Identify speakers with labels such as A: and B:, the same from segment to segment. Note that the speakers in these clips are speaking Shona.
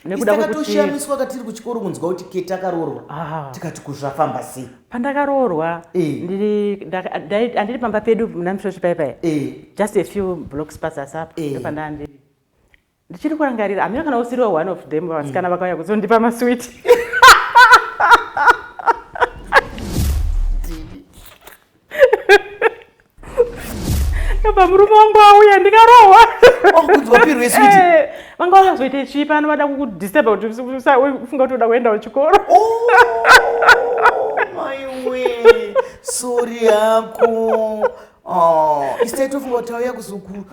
A: nekudatoshamiswa katiri kuchikoro kunzwa kuti keti akaroorwa ah. tikati kuzvafamba sei pandakaroorwa
B: eh. andiri pamba pedu muna misvosvi pai pai eh. just a few blocks pasi asi apo eh. pandandiri ndichiri kurangarira amira kana usiriwa one of them vasikana mm. vakauya kuzondipa maswit apa murume wangu auya ndikarohwa oh,
A: eh, vanga vakazoita
B: chii pano vada kukudisturba kuti ufunga kuti uda kuendawo chikoro
A: oh, sori yako oh, iseitofunga kuti auya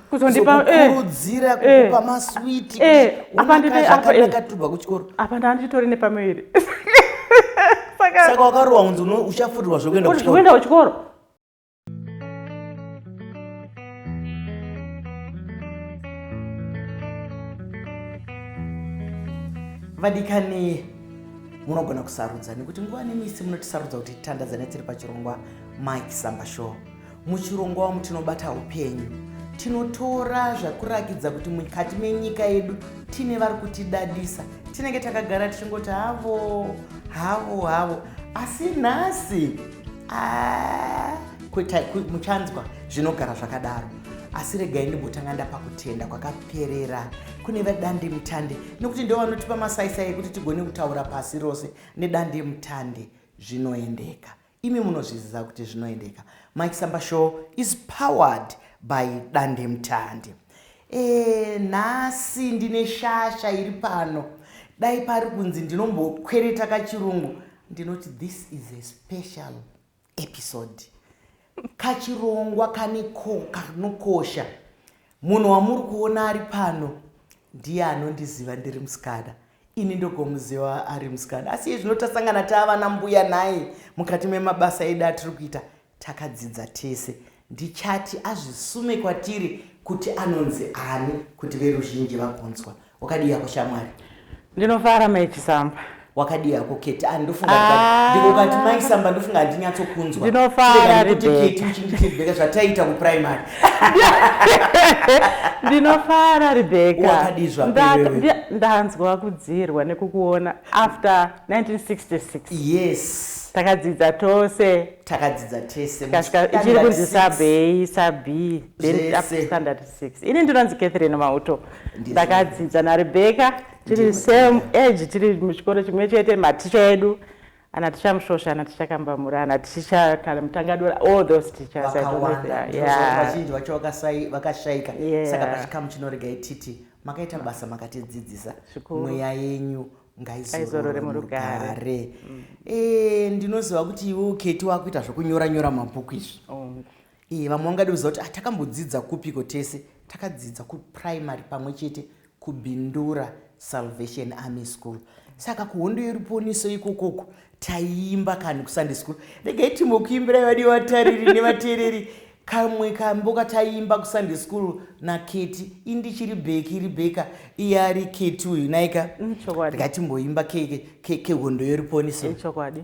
A: kuzondipa eh. kukurudzira eh. kukupa eh. maswiti eh. apa ndine eh. apa eh. akatubva kuchikoro apa ndanditori
B: nepamuviri
A: saka saka wakarowa unzi uchafurirwa zvekuenda kuchikoro kuenda kuchikoro vadikani munogona kusarudza nekuti nguva nemisi munotisarudza kuti titandadzane tiri pachirongwa mike samba show Muchirongwa wamu tinobata upenyu tinotora zvakurakidza kuti mukati menyika yedu tine vari kutidadisa tinenge takagara tichingoti havo havo havo asi nhasi ah, muchanzwa zvinogara zvakadaro asi regai ndimbotanga ndapa kutenda kwakaperera kune vedande mutande nekuti ndo vanotipa masaisai ekuti tigone kutaura pasi rose nedande mutande zvinoendeka Imi munozviziva kuti zvinoendeka. Mike Samba Show is powered by Dandemutande. Eh, nhasi ndine shasha iri pano. Dai pari kunzi ndinombokwereta kachirungu ndinoti this is a special episode. Kachirongwa kane ko kanokosha. Munhu wamuri kuona ari pano ndiye anondiziva ndiri musikana ini ndogomuziva ari musikana asi iye zvino tasangana taavana mbuya nhai mukati memabasa edu atiri kuita takadzidza tese ndichati azvisume kwatiri kuti anonzi ani kuti veruzhinji vagonzwa wakadii yako shamwari ndinofara
B: maichisamba wakadii yako
A: keti ah, ndofunga ah. ndikokati maisamba ndofunga handinyatsokunzwa ndinofara kuti
B: keti
A: uchindifeedbacka zvataiita kuprimary
B: ndinofara rebeka ndanzwa kudzirwa nekukuona after 1966 yes
A: takadzidza
B: tose takadzidza
A: tese ichiri kunzi
B: sabei sabi then standard six ini ndinonzi catherine mauto ndakadzidza narebecca tiri same age tiri muchikoro chimwe chete maticha edu ana ticha musvosva ana ticha kambamura ana ticha kana mutangadora all those teachers vazhinji
A: vacho vakashaika saka pachikamu chinoregai titi makaita basa makatidzidzisa mweya yenyu ngaizorore murugare mm. eh, ndinoziva kuti iwe uketi wakuita zvekunyora nyora mabhuku izvi oh. Iye vamwe vangadiudza kuti atakambodzidza kupiko tese takadzidza kuprimary pamwe chete kubindura salvation army school saka kuhondo yeruponiso ikokoko taiimba kani kusunday school regai timbo kuimbirai vadi vatariri nevateereri kamwe kambo kataiimba kusunday school naketi indichiri bheki ribheka iye ari keti uyu naika mm, regai timboimba kehondo yeruponiso chokwadi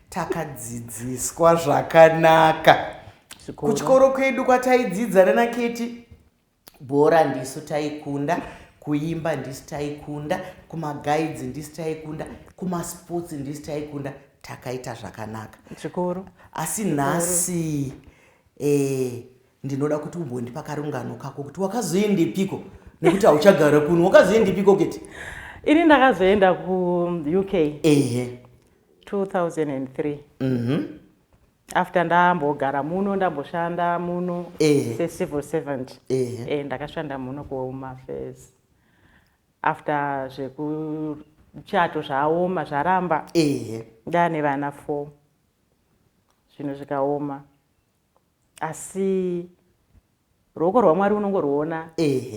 A: takadzidziswa zvakanaka kuchikoro kwedu kwataidzidza nana keti bhora ndisu taikunda kuimba ndisu taikunda kumagaidzi ndisu taikunda kumasports ndisu taikunda takaita zvakanaka zvikuru
B: asi nhasi
A: eh, ndinoda kuti umbondipa karungano kako kuti wakazoendepiko nekuti hauchagara kuno wakazoendepiko keti ini ndakazoenda
B: kuuk ehe 2003 mm -hmm. after ndambogara muno ndamboshanda muno eh. secivil servant eh. Eh, ndakashanda muno kuhome affairs after zvekuchato zvaoma zvaramba eh. ndane vana four zvinhu zvikaoma asi ruoko rwamwari unongorwuona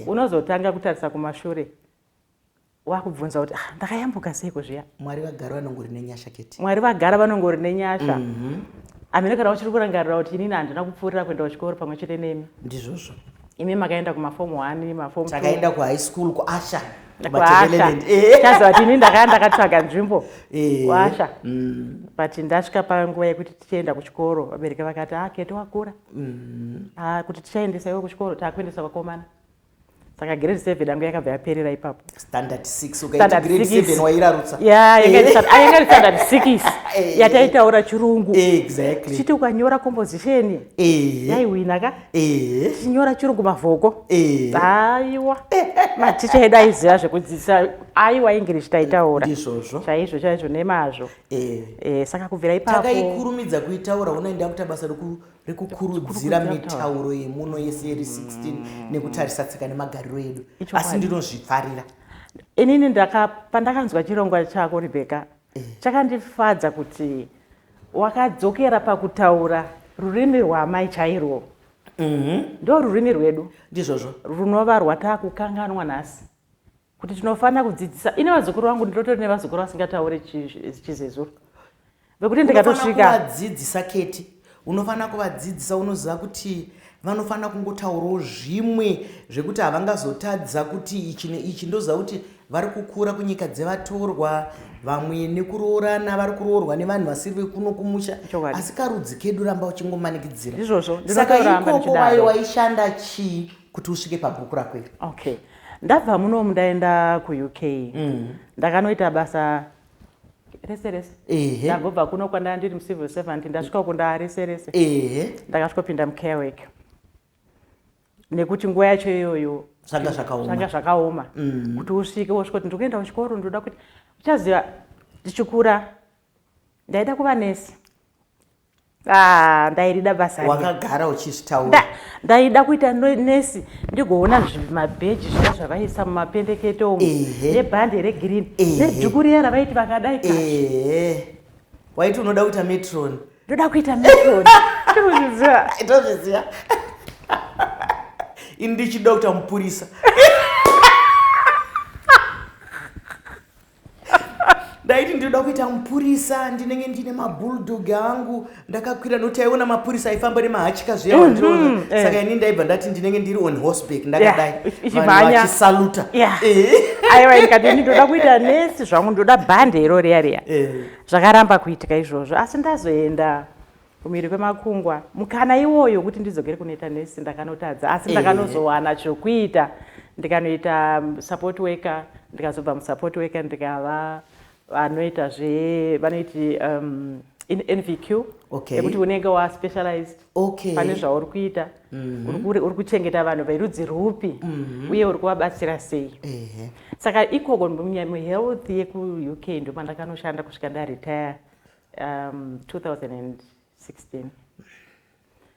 B: unozotanga kutarisa kumashure wakubvunza kuti ah, ndakayambuka seiko zviya mwari vagara vanongori
A: nenyasha keti mwari vagara vanongori
B: nenyasha mm -hmm. amene kana uchiri kurangarira kuti inini handina kupfuurira kuenda kuchikoro pamwe chete nemi ndizvozvo
A: imi makaenda
B: kumafomu one mafomu takaenda kuhigh school
A: kuasha
B: chaziva tini ndakaya ndakatsvaga nzvimbo eh. kuasha mm. but ndasvika panguva yekuti tichienda kuchikoro vabereki vakati a ah, kete wakura mm. a ah, kuti tichaendesa iwe kuchikoro takuendesa vakomana saka grade seven yangu yakabva yaperera ipapo standard
A: six ukaita grade seven wairarutsa ya
B: yanga iri eh. standard six eh. yataitaura chirungu exactly tichiti
A: ukanyora
B: composition eh. yaiwina ka tichinyora chirungu mavhoko aiwa maticha edu aiziva zvekudzidzisa aiwa english taitaura ndizvozvo chaizvo
A: chaizvo nemazvo
B: Eh. eh, saka kubvira ipapo takaikurumidza kuitaura
A: unai ndakuita basa rekukurudzira mitauro yemuno yese iri 16 mm. nekutarisa tsika nemagariro edu asi ndinozvifarira inini
B: pandakanzwa chirongwa chako rebeka eh. chakandifadza kuti wakadzokera pakutaura rurimi rwaamai chairwo mhm. ndo rurimi rwedu ndizvozvo runova rwataakukanganwa nhasi kuti tinofanira kudzidzisa ini vazukuru vangu ndinotori nevazukuru vasingataure chizezuru vekuti ndikatosvikadzidzisa keti
A: unofanira kuvadzidzisa unoziva kuti vanofanira kungotaurawo zvimwe zvekuti havangazotadza kuti ichi neichi ndoziva kuti vari kukura kunyika dzevatorwa vamwe nekuroorana vari kuroorwa nevanhu vasiri vekuno kumusha asi karudzi kedu ramba uchingomanikidzira saka
B: ikoko
A: wayo waishanda chii kuti usvike pabhuku rako iri okay ndabva
B: munomu ndaenda kuuk mm. ndakanoita basa rese rese ndagobva kuno kwandanga ndiri mucivil servant ndasvika uko ndaa rese rese ndakasvikopinda mucarewek nekuti nguva yacho iyoyo zvanga zvakaoma zvakaoma mm. kuti usvike wosvika kuti ndikuenda kuchikoro ndinoda kuti uchaziva ndichikura ndaida kuva nesi Ah, ndairida basa wakagara uchizvitaura
A: ndaida kuita
B: nesi ndigoona zvimabheji zviya zvavaisa mumapendekete umu nebhande regreen nedhuku riya ravaiti vakadai waiti
A: unoda kuita metron ndoda kuita metron
B: tozviziva
A: ini ndichida kuita mupurisa ndaiti ndinoda kuita mupurisa ndinenge ndine mabulldog angu ndakakwira nokuti aiona mapurisa aifamba nemahachika zviya wandiona mhm, eh. saka ini ndaibva ndati ndinenge ndiri on horseback ndakadai vachisaluta eh. aiwa
B: ndikati ndinoda kuita nesi zvangu ndoda bhande iro riya riya eh. zvakaramba kuitika izvozvo asi ndazoenda Kumhiri kwemakungwa. Mukana iwoyo wekuti ndidzokere kunoita nurse ndakanotadza asi Eh. ndakanozowana chokuita ndikanoita mm, support worker ndikazobva musupport worker ndikava vanoita zve vanoiti um, in- NVQ Okay. yekuti unenge wa specialized Okay. pane zvauri kuita uri kuri- uri kuchengeta vanhu verudzi rupi uye uri kuvabatsira sei Ehe. saka ikoko munya- muhealth yekuuk ndomandakanoshanda kusvika ndaretire 2016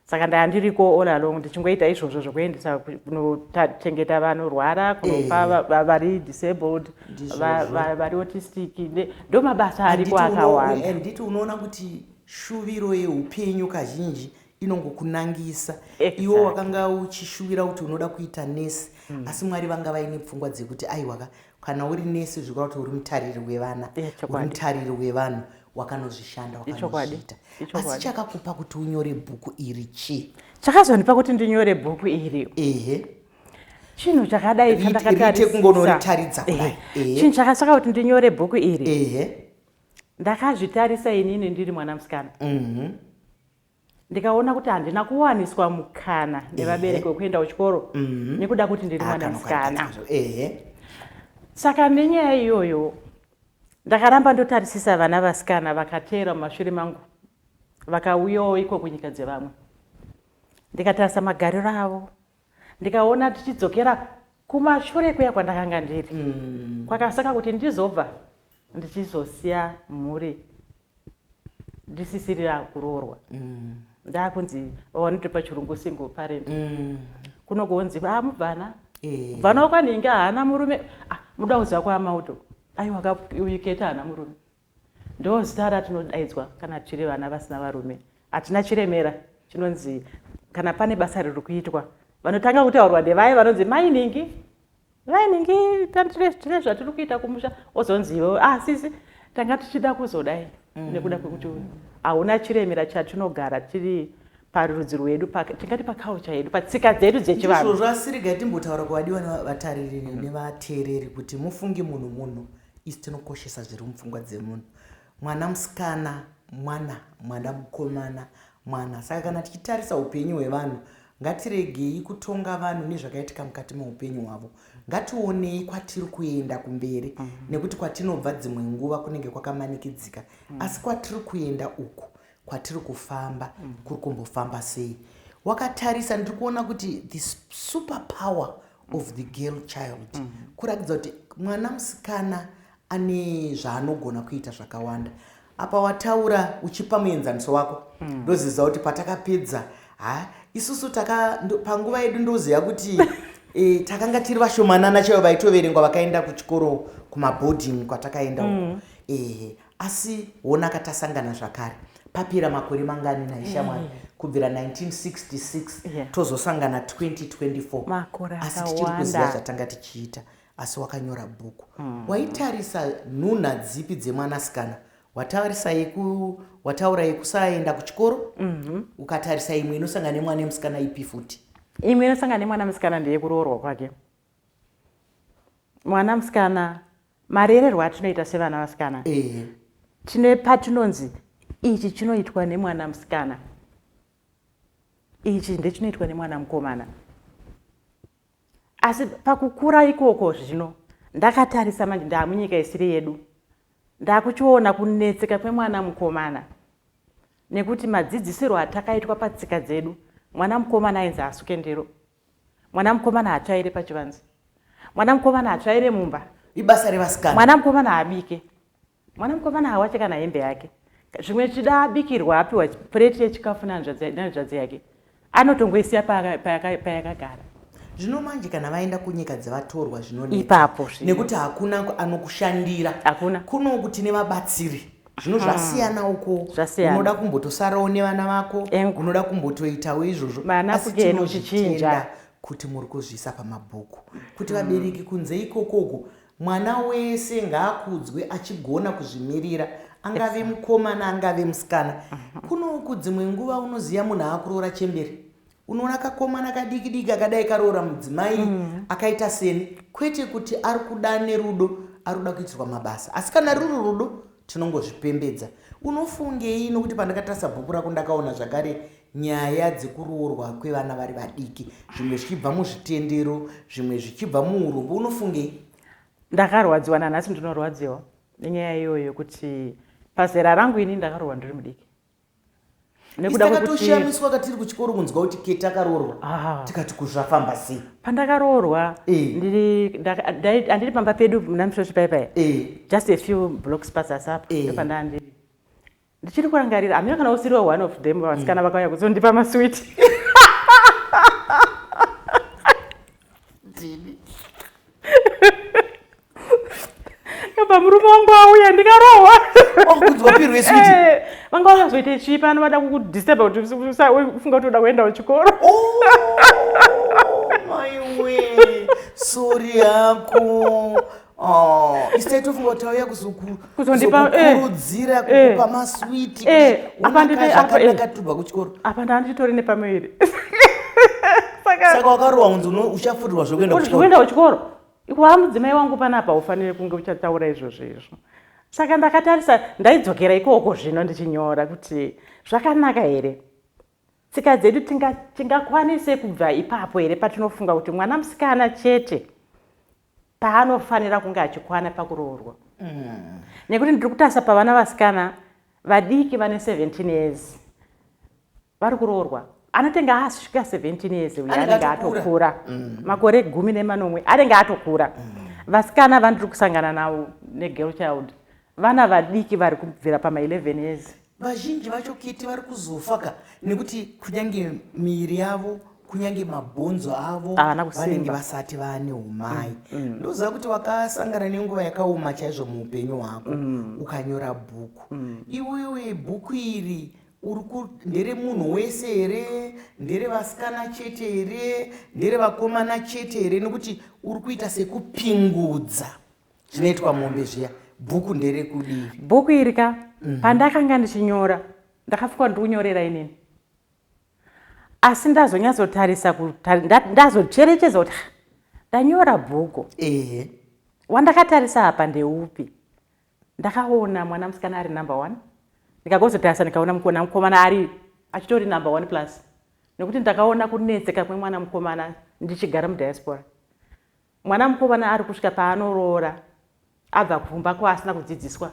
B: saka ndanga ndiriko all along ndichingoita izvozvo zvokuendesa kunochengeta vanorwara kunopa eh. vari disabled vari autistic ndo mabasa ariko akawanda handiti unoona kuti
A: shuviro yeupenyu kazhinji inongokunangisa exactly. iwo wakanga uchishuvira kuti unoda kuita nesi mm. asi mwari vanga vaine pfungwa dzekuti aiwaka kana uri nesi zvikureva kuti uri mutariri wevana uri mutariri wevanhu wakanozvishanda wakanozviita asi chakakupa kuti unyore bhuku iri chii chakazondipa kuti
B: ndinyore bhuku iri ehe chinhu chakadai chandakatarisaakungonoritaridza kudai
A: chinhu chakasaka kuti
B: ndinyore bhuku iri ehe ndakazvitarisa inini ndiri mwana musikana mhm. ndikaona kuti handina kuwaniswa mukana nevabereki wekuenda kuchikoro mhm. nekuda kuti ndiri ah, mwana musikana saka nenyaya iyoyo ndakaramba ndotarisisa vana vasikana vakateera mumashure mangu vakauyawo iko kunyika dzevamwe ndikatarisa magariro avo ndikaona tichidzokera kumashure kuya kwandakanga ndiri mm. kwakasaka kuti ndizobva ndichizosiya mhuri ndisisirira kuroorwa mm. ndakunzi vanotopa chirungu single parent mm. kuno kunzi a ah, mubvana eh. mubvana wakwaninge haana murume ah, muda kuziva kwaamauto aiwa uyiketa haana murume Ndozita ratinodaidzwa kana tiri vana vasina varume. Hatina chiremera chinonzi kana pane basa riri kuitwa vanotanga kutaurwa nevaye vanonzi mainingi mainingi tine zvatiri kuita kumusha ozonzi iwe asisi ah, tanga tichida kuzodai mm. nekuda kwekuti hauna chiremera chatinogara tiri parudzi rwedu tingati pakaucha yedu patsika dzedu dzechivanhu zvasiriga timbotaura
A: kuvadiwa nevatariri nevateereri kuti mufungi munhu munhu isu tinokoshesa zviri mupfungwa dzemunhu mwana musikana mwana mwana mukomana mwana saka kana tichitarisa upenyu hwevanhu ngatiregei kutonga vanhu nezvakaitika mukati meupenyu hwavo ngationei kwatiri kuenda kumberi mm -hmm. nekuti kwatinobva dzimwe nguva kunenge kwakamanikidzika mm -hmm. asi kwatiri kuenda uku kwatiri kufamba mm -hmm. kuri kumbofamba sei wakatarisa ndiri kuona kuti the super power of the girl child mm -hmm. kuratidza kuti mwana musikana ane zvaanogona kuita zvakawanda apa wataura uchipa muenzaniso wako mm. ndoziva kuti patakapedza ha isusu taka ndo, panguva yedu ndoziva kuti e, takanga tiri vashomanana chaivo vaitoverengwa vakaenda kuchikoro kumaboarding kwatakaenda uko mm. e, Asi honaka tasangana zvakare papera makore mangani nhai shamwari mm. kubvira 1966 yeah. tozosangana 2024 asi tichiri kuziva zvatanga tichiita asi wakanyora bhuku mm. waitarisa nhunha dzipi dzemwanasikana wataurisa yeku wataura yekusaenda kuchikoro mm -hmm. ukatarisa imwe inosangana nemwana emusikana ipi futi imwe inosangana
B: nemwana musikana ndeyekuroorwa kwake mwana musikana marererwa atinoita sevana vasikana eh. tine patinonzi ichi chinoitwa nemwana musikana ichi ndechinoitwa nemwana mukomana asi pakukura ikoko zvino ndakatarisa manje ndaamunyika isiri yedu ndakuchiona kunetseka kwemwana mukomana nekuti madzidzisirwo atakaitwa patsika dzedu mwana mukomana ainzi asuke ndiro mwana mukomana hatsvaire pachivanze mwana mukomana hatsvaire mumba ibasa revasikana
A: mwana mukomana haabike
B: mwana mukomana hawache kana hembe yake zvimwe zvichida abikirwa apiwa pureti yechikafu nanzvadzi yake anotongoisiya payakagara zvino
A: manje kana vaenda kunyika dzevatorwa zvinoneipapo nekuti
B: hakuna
A: anokushandira hakuna kunoku tine vabatsiri zvino zvasiyana uko unoda kumbotosarawo nevana vako unoda kumbotoitawo izvozvo asi tinozvitenda kuti muri kuzviisa pamabhuku kuti hmm. vabereki kunze ikokoko mwana wese ngaakudzwe achigona kuzvimirira angave mukomana angave musikana mhm. kunoku dzimwe nguva unoziva munhu akuroora chemberi unoona kakomana kadiki diki akadai karoora mudzimai mm. akaita seni kwete kuti ari kuda nerudo ari kuda kuitirwa mabasa asi kana ruri rudo tinongozvipembedza unofungei nokuti pandakatarisa bhuku rako ndakaona zvakare nyaya dzekuroorwa kwevana vari vadiki zvimwe zvichibva muzvitendero zvimwe zvichibva muurombo unofungei ndakarwadziwa
B: nanhasi ndinorwadziwa nenyaya iyoyo yekuti pazera rangu ini ndakaroorwa ndiri mudiki nekuda kwekutishamiswa
A: katiri kuchikoro kunzwa kuti ke takaroorwa ah. tikati kuzvafamba sei pandakaroorwa
B: eh. andiri pamba pedu muna mishoshi pai pai eh. just a few blocks pasi asi apo eh. pandandiri ndichiri kurangarira hamina kana usiriwo one of them vasikana mm. vakauya kuzondipa maswiti Baba murume wangu auya ndikarohwa. Wakunzwa oh, pirwe
A: sweet. Eh, vanga wakazoita
B: chii pano vada kukudisturb kuti ufunga kuti uda kuenda kuchikoro.
A: Oh, my way. Sorry yako. Oh, instead of kuti auya kuzokurudzira eh, kukupa eh, maswiti. Eh, apa ndine apa ndakatubva kuchikoro. Apa ndanditori nepamwe
B: iri.
A: Saka wakarohwa unzi uchafurirwa zvekuenda kuchikoro. Kuenda kuchikoro.
B: Ikwaa mudzimai wangu panapa haufanire kunge uchataura izvozvo izvo saka ndakatarisa ndaidzokera ikoko zvino ndichinyora kuti zvakanaka here tsika dzedu tingakwanise kubva ipapo here patinofunga kuti mwana musikana chete paanofanira kunge achikwana pakuroorwa mm. nekuti ndiri kutarisa pavana vasikana vadiki vane 17 years vari kuroorwa anotenge asvika 17 years uye anenge atokura mm. makore gumi nemanomwe anenge atokura mm. vasikana vandiri kusangana navo negirl child vana vadiki vari kubvira pama11 years vazhinji vacho
A: kiti vari kuzofa ka nekuti kunyange miiri yavo kunyange mabhonzo avo vanenge vasati vane umai mm, mm. ndoziva kuti wakasangana nenguva yakaoma chaizvo muupenyu hwako mm. ukanyora bhuku iwewe bhuku iri uri ku ndere munhu wese here ndere vasikana chete here ndere vakomana chete here nekuti uri kuita sekupingudza zvinoitwa mombe zviya bhuku ndere kudii bhuku iri ka mhm.
B: pandakanga ndichinyora ndakafikwa ndikunyorera inini asi ndazonyatsotarisa ndazocherechedza kuti ndanyora bhuku ehe wandakatarisa apa ndeupi Ndakaona mwana musikana ari number one ndikagozotarisa ndikaona mukona mukomana ari achitori number one plus nekuti ndakaona kunetseka kwemwana mukomana ndichigara mudiaspora mwana mukomana ari kusvika paanoroora abva kumba ko asina kudzidziswa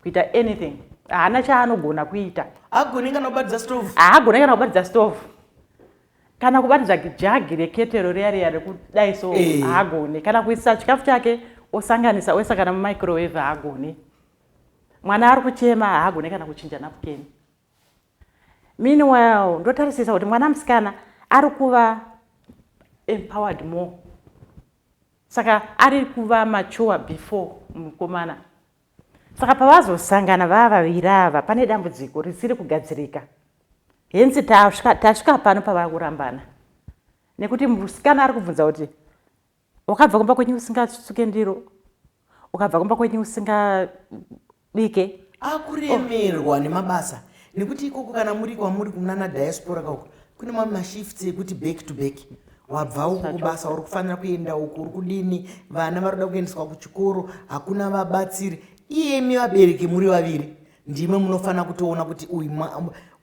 B: kuita anything haana chaanogona kuita agone kana kubatidza
A: stove haagone kana kubatidza
B: stove kana kubatidza jagi reketero riya riya rekudai so eh. haagone kana kuisa chikafu chake osanganisa oisa kana mumicrowave haagone mwana ari kuchema haagone kana kuchinja napukeni meanwhile ndotarisisa kuti mwana musikana ari kuva empowered more saka ari kuva mature before mukomana Saka pavazosangana vava vaviri ava pane dambudziko risiri kugadzirika. Henzi tasvika, tasvika pano pavava kurambana. Nekuti musikana ari kubvunza kuti wakabva kumba kwenyu usingasuke ndiro, ukabva kumba kwenyu usingabike. Akuremerwa
A: oh. nemabasa nekuti ikoko kana muri kwamuri kunana diaspora kako kune mamwe mashifts ekuti back to back wabva uku kubasa uri kufanira kuenda uku uri kudini vana vari kuda kuendeswa kuchikoro hakuna vabatsiri iyemi vabereki muri vaviri ndimwe munofanira kutoona kuti uyu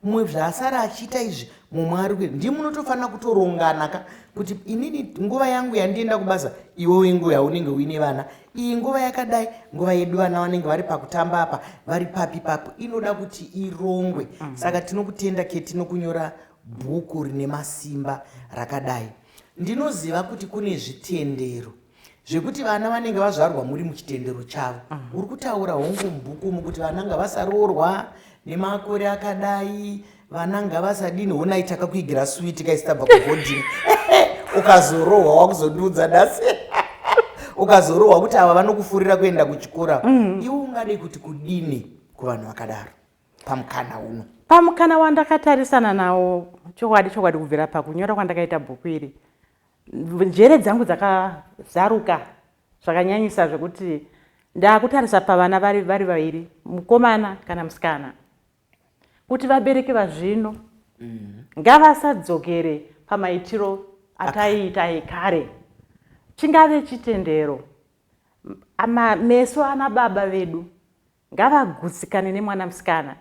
A: mumwe zvaasara achiita izvi mumwe ari kuita ndimwe munotofanira kutorongana ka kuti inini nguva yangu yandienda kubasa iwewe nguva yaunenge uine vana iyi nguva yakadai nguva yedu vana vanenge vari pakutamba apa vari papi papo inoda kuti irongwe mm. saka tinokutenda ketinokunyora mm -hmm. Bhuku rine masimba rakadai. Ndinoziva kuti kune zvitendero zvekuti vana vanenge vazvarwa muri muchitendero chavo mhm. uri kutaura hongu mubhuku umu kuti vana ngavasaroorwa nemakore akadai vana ngavasadini honai takakuigira switi kaisitabva kuhodini ukazorohwa wakuzondiudza nhasi ukazorohwa kuti ava vanokufurira kuenda kuchikora mhm. iwe ungade kuti kudini kuvanhu vakadaro pamukana uno pamukana
B: wandakatarisana nawo chokwadi chokwadi kubvira pakunyora kwandakaita bhuku iri njere dzangu dzakazaruka zvakanyanyisa zvekuti ndaakutarisa pavana vari vari vaviri mukomana kana musikana kuti vabereki vazvino mm. ngavasadzokere pamaitiro ataiita ekare chingave chitendero meso ana baba vedu ngavagutsikane nemwana musikana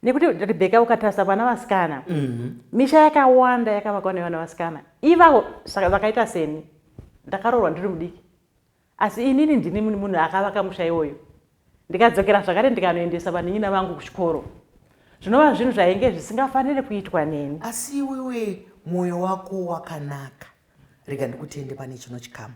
B: nekuti rebheka ukatarisa vana vasikana mhm. misha yakawanda yakavakwa nevana vasikana ivavo vakaita seni ndakaroorwa ndiri mudiki asi inini ndini munhu akavaka musha iwoyo ndikadzokera zvakare ndikanoendesa vanhinyina vangu kuchikoro zvinova zvinhu zvainge zvisingafanire kuitwa neni asi iwewe
A: mwoyo wako wakanaka Rega ndikutende pane chino chikamu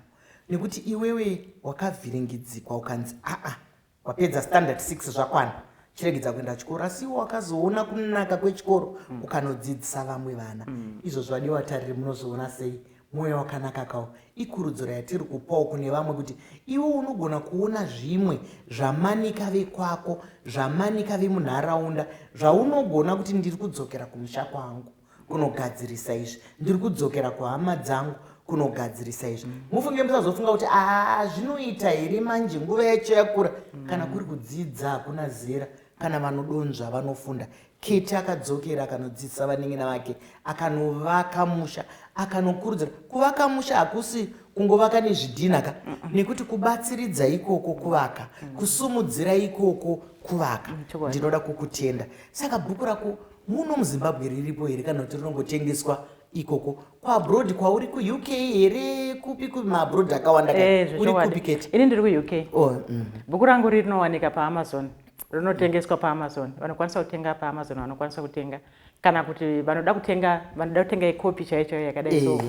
A: nekuti iwewe wakavhiringidzikwa ukanzi aa wapedza standard 6 zvakwana chiregedza kuenda chikoro asi iwe wakazoona kunaka kwechikoro mm. ukanodzidzisa vamwe vana mm. izvo zvadi watariri munozoona sei mwoyo wakanaka kawo ikurudziro yatiri kupawo kune vamwe kuti iwe unogona kuona zvimwe zvamanika vekwako zvamanika vemunharaunda zvaunogona kuti ndiri kudzokera kumusha kwangu kunogadzirisa izvi ndiri kudzokera kuhama dzangu kunogadzirisa izvi mufunge musazofunga kuti aa zvinoita here manje nguva yacho yakura kana kuri kudzidza hakuna zera kana vanodonzva vanofunda keti akadzokera akanodzidzisa vaningina vake akanovaka musha akanokurudzira kuvaka musha hakusi kungovaka nezvidhina ka nekuti kubatsiridza ikoko kuvaka kusumudzira ikoko kuvaka ndinoda kukutenda saka bhuku rako muno muzimbabwe riripo here kana kuti rinongotengeswa ikoko kuabroad kwauri kuuk here kupi kupi maabroad akawanda eh, uri kupi kete ini ndiri kuuk oh,
B: mhm. bhuku rangu rinowanika paamazon rinotengeswa paamazon vanokwanisa kutenga paamazon vanokwanisa kutenga kana kuti vanoda kutenga vanoda kutenga ikopi chaiyo chaiyo yakadai so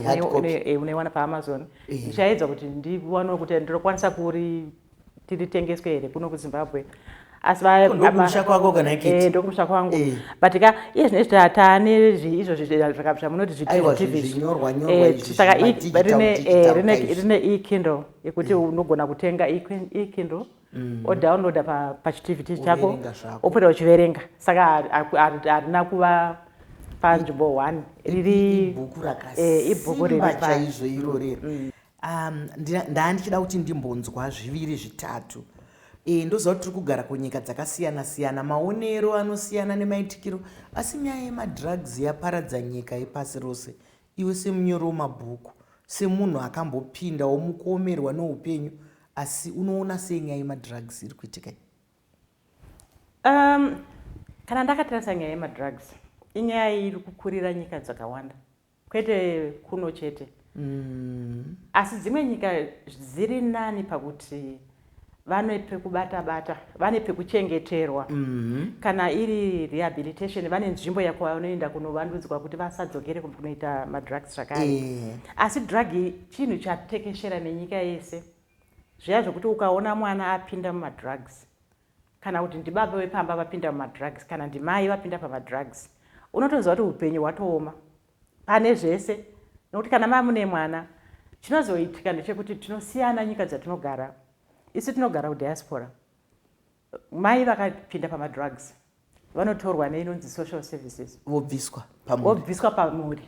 B: eh, eh, unaiwana paamazon ndichaedza kuti ndiwanewo kuti ndinokwanisa kuri tiritengeswe here kuno kuzimbabwe asi ndokumusha
A: kwako kana ikiti eh, ndokumusha kwangu eh.
B: but ka iye zvine zvita taane izvozvi zvamunoti zvitivizvisaka eh, rine ekindle yekuti mm. unogona kutenga ekindle mm. odownloada pachitivity chako opota uchiverenga saka harina kuva panzvimbo one riri ibhuku rakasimba chaizvo
A: irorero mm. Um, ndaa ndichida kuti ndimbonzwa zviviri zvitatu e, ndoziva kuti tiri kugara kunyika dzakasiyana siyana maonero anosiyana nemaitikiro asi nyaya yemadrugs yaparadza nyika yepasi rose iwe semunyori wemabhuku semunhu akambopinda womukuomerwa neupenyu asi unoona sei nyaya yemadrugs iri kuitika um,
B: kana ndakatarisa nyaya yemadrugs inyaya iri kukurira nyika dzakawanda kwete kuno chete mm. asi dzimwe nyika dziri nani pakuti vane pekubata bata vane pekuchengeterwa mm -hmm. kana iri rehabilitation vane nzvimbo yakwavanoenda kunovandudzwa kuti vasadzokere kunoita madrugs zvakare yeah. asi drug chinhu chatekeshera nenyika yese zviya zvekuti ukaona mwana apinda mumadrugs kana kuti ndibaba vepamba vapinda mumadrugs kana ndimai vapinda pamadrugs unotonzwa kuti upenyu hwatooma pane zvese nokuti kana mamune mwana chinozoitika ndechekuti tinosiyana nyika dzatinogara isu tinogara kudiaspora mai vakapinda pamadrugs vanotorwa neinonzi social services vobviswa pamuvobviswa pamuri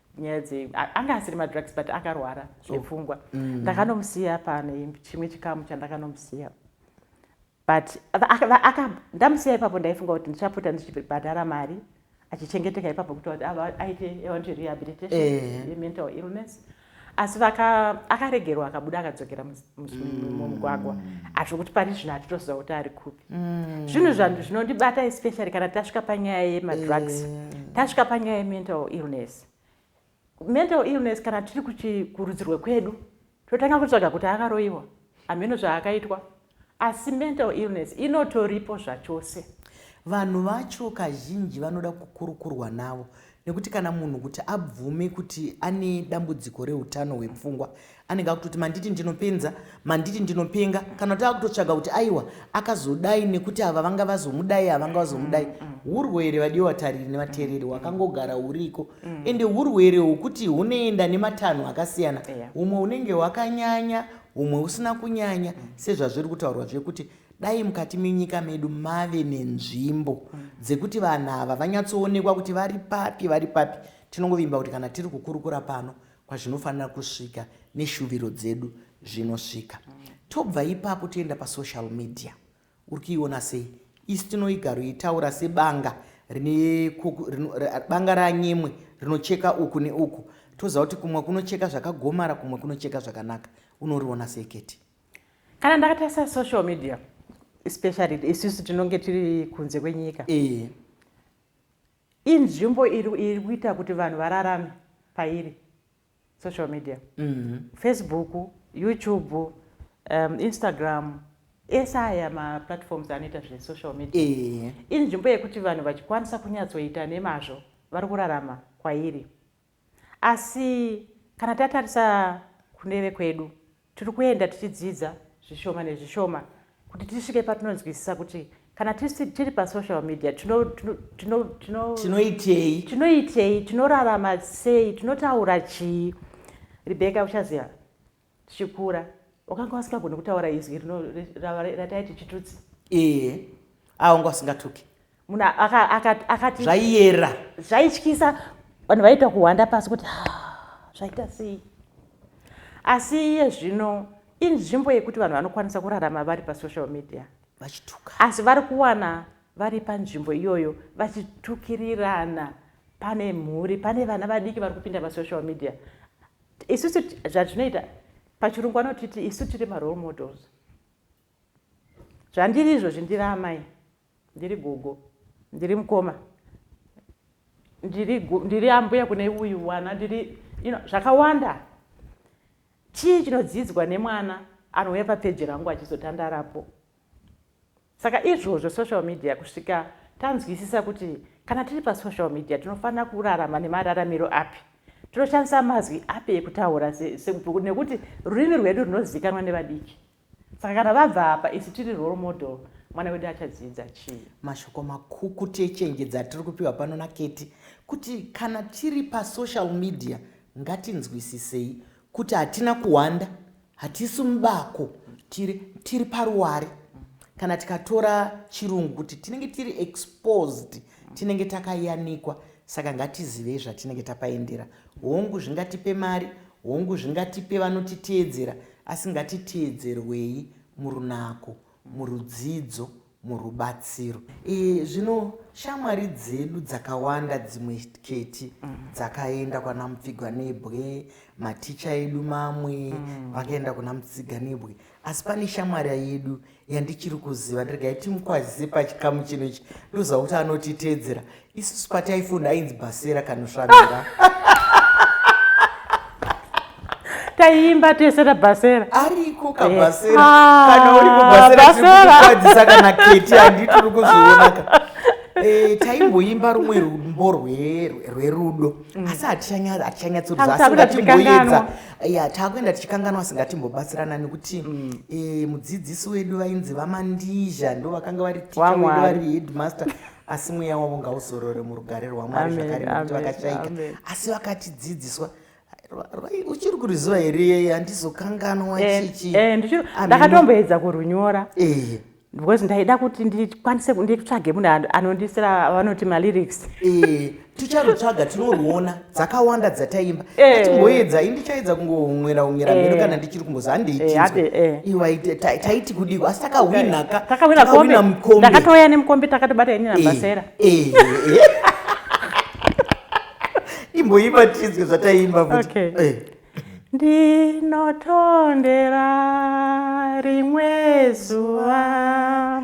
B: nyaya dzei anga asiri madrugs but akarwara zvepfungwa oh. mm. ndakanomusiya pane chimwe chikamu chandakanomusiya but ndamusiya ipapo ndaifunga kuti ndichapota ndichibhadhara mari achichengeteka ipapo kuti kuti ava aite evanti rehabilitation eh. yemental illness asi akaregerwa akabuda akadzokera mumugwagwa mm. azvokuti pari zvino hatitoziva kuti ari kupi Mm. zvinhu zvanhu zvinondibata especially kana tasvika panyaya yemadrugs mm. tasvika panyaya yemental illness mental illness kana tiri kurudzirwe kwedu totanga kutsvaga kuti akaroyiwa hameno zvaakaitwa asi mental illness inotoripo zvachose vanhu
A: vacho kazhinji vanoda kukurukurwa navo nekuti kana munhu kuti abvume kuti ane dambudziko reutano hwepfungwa anenge akutoti manditi ndinopenza manditi ndinopenga kana kuti akutotsvaga kuti aiwa akazodai nekuti ava vanga vazomudai avanga vazomudai mm, mm, mm. urwere vadii watariri nevateereri wakangogara huriko ende urwere hwokuti hunoenda nematanho akasiyana humwe unenge hwakanyanya humwe usina kunyanya sezvazviri kutaurwa zvekuti Dai mukati menyika medu mave nenzvimbo dzekuti vanhu ava vanyatsoonekwa kuti vari papi vari papi. Tinongovimba kuti kana tiri kukurukura pano kwazvinofanira kusvika neshuviro dzedu zvinosvika. Tobva ipapo toenda pasocial media. Uri kuiona sei? Isi tinoigaro itaura sebanga rine banga ranyemwe rinocheka uku neuku. Toziva kuti kumwe kunocheka zvakagomara kumwe kunocheka zvakanaka. Unoriona sei Keti? kana ndakatarisa
B: social media especially isusu tinonge tiri kunze kwenyika eh. inzvimbo iri kuita kuti vanhu vararame pairi social media mm -hmm. facebook youtube um, instagram ese aya maplatforms anoita zvesocial media eh. inzvimbo yekuti vanhu vachikwanisa kunyatsoita nemazvo vari kurarama kwairi Asi kana tatarisa kuneve kwedu, tiri kuenda tichidzidza zvishoma nezvishoma kuti tisvike patinonzwisisa kuti kana tisi tiri pasocial media tinoitei tinoitei tinorarama sei tinotaura chii rebeka uchaziva tichikura wakanga wasingagoni kutaura izwi rino rataiti chitutsi ee
A: awanga usingatuki munhu
B: akati zvaiyera
A: zvaityisa
B: vanhu vaiita kuhwanda pasi kuti ah, zvaita sei asi iye zvino inzvimbo yekuti vanhu vanokwanisa kurarama vari pasocial media vachituka asi
A: vari kuwana
B: vari panzvimbo iyoyo vachitukirirana pane mhuri pane vana vadiki vari kupinda pasocial media isusu zvatinoita pachirungu anotiti isu tiri marole models zvandiri izvozvi ndiri amai ndiri gogo ndiri mukoma ndiri ambuya kune uyu mwana ndiri you know, zvakawanda chii chinodzidzwa nemwana anouya papeji rangu achizotandarapo Saka izvozvo social media kusvika tanzwisisa kuti kana tiri pasocial media tinofanira kurarama nemararamiro api tinoshandisa mazwi api ekutaura nekuti rurimi rwedu runozivikanwa nevadiki saka kana vabva apa isu tiri role model mwana wedu achadzidza chii mashoko makukuti
A: echenjedzo atiri kupiwa pano naketi kuti kana tiri pasocial media ngatinzwisisei kuti hatina kuwanda hatisi mubako tiri, tiri paruware kana tikatora chirungu kuti tinenge tiri exposed tinenge takayanikwa saka ngatizivei zvatinenge tapaendera hongu zvingatipe mari hongu zvingatipe vanotiteedzera asi ngatiteedzerwei murunako murudzidzo murubatsiro. E, zvino shamwari dzedu dzakawanda dzimwe keti mm. dzakaenda kwana mupfiganebwe maticha edu mamwe mm. vakaenda kuna mupfiganebwe asi pane shamwari yedu yandichiri kuziva ndiregai timukwazise pachikamu chino ichi ndoziva kuti anotiteedzera isusu pataifunda ainzi bhasera kanosvabira
B: taiimba tese tabhasera ariko kabhasera
A: eh. ah, kana uri kubhasera tikukwadzisa kana keti handi tiri kuzvionaka eh, taimboimba rumwe rumbo rwerudo mm. asi hatichanyatsoruzaasiatimboedza ya taakuenda tichikanganwa singatimbobatsirana nekuti mm. eh, mudzidzisi wedu vainzi vamandizha ndo vakanga vari ticha wedu vari headmaster asi mweya wavo ngauzorore murugare rwamwari zvakare nekuti vakashaika asi vakatidzidziswa uchiri kuriziva here handizokanganwa eh, chichi eh, ndakatomboedza
B: kurunyora eh. because ndaida kuti ndikwanise nditsvage munhu anondisira vanoti malyrics ticharutsvaga
A: tinoruona dzakawanda dzataimba eh. atimboedza ini ndichaedza kungohumwira humwira mhedu eh. kana ndichiri kumbozi handiitinzwe eh, iwa taiti kudiko asi takahwina ka takahwina kombe ndakatouya nemukombe
B: takatobata ini nabasera
A: imboimba tinzwe zvataimba futi ndinotondera
B: rimwe zuva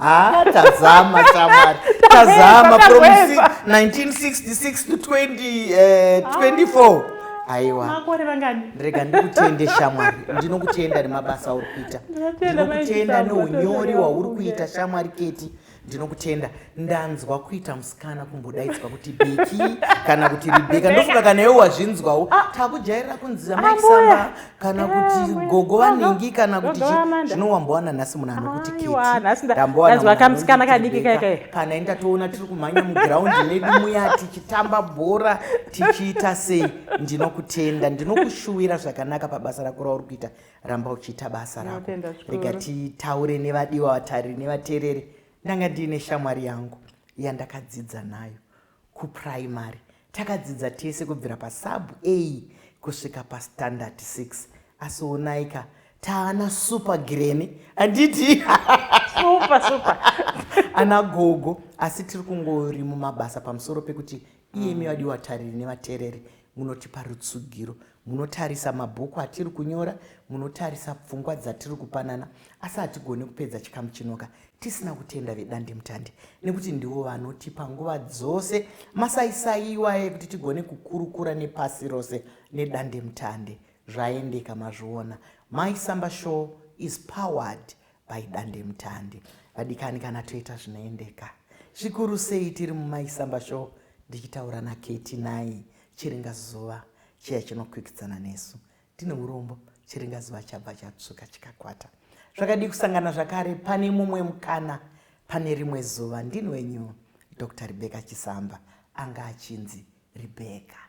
B: Ah, tazama shamwari tazama from 1966 to 20, uh, 24 aiwa makore vangani rega ndikutende shamwari ndinokutenda nemabasa auri kuita ndinokutenda neunyori wauri kuita shamwari keti ndinokutenda ndanzwa kuita musikana kumbodaidzwa kuti beki kana kuti ribeka ndofunga kana iwe wazvinzwawo ah. takujairira kunzira maisamba kana kuti gogo vanhingi kana kuti zvinowambowana nhasi munhu anokuti kitindanzwa kamusikana kadiki kaikai kana enda toona
A: tiri kumhanya mugiraundi medu muya tichitamba bhora tichiita sei ndinokutenda ndinokushuwira zvakanaka pabasa rako rauri kuita ramba uchiita basa rako rega titaure nevadiwa vatariri nevateereri ndanga ndiine shamwari yangu yandakadzidza nayo Kupuraimari takadzidza tese kubvira pasub A kusvika pastandard 6 asi onaika taana super greni handiti super super ana gogo
B: asi
A: tiri kungori mumabasa pamusoro pekuti iyemi mm. vadiwa tariri nevatereri Munotipa rutsugiro, munotarisa mabhuku atiri kunyora, munotarisa pfungwa dzatiri kupanana, asi hatigone kupedza chikamu chinoka tisina kutenda vedandemutande nekuti ndivo vanotipa nguva dzose masaisai iwaye kuti tigone kukurukura nepasi rose nedandemutande. Zvaendeka mazviona. Mai Samba Show is powered by dandemutande vadikani kana toita zvinoendeka zvikuru sei tiri mumaisamba show ndichitaura naketi nai chiringa zuva chiya chinokwikidzana nesu tine urombo chiringa zuva chabva chatsvuka chikakwata zvakadii kusangana zvakare pane mumwe mukana pane rimwe zuva ndini wenyu dr rebeka chisamba anga achinzi rebeka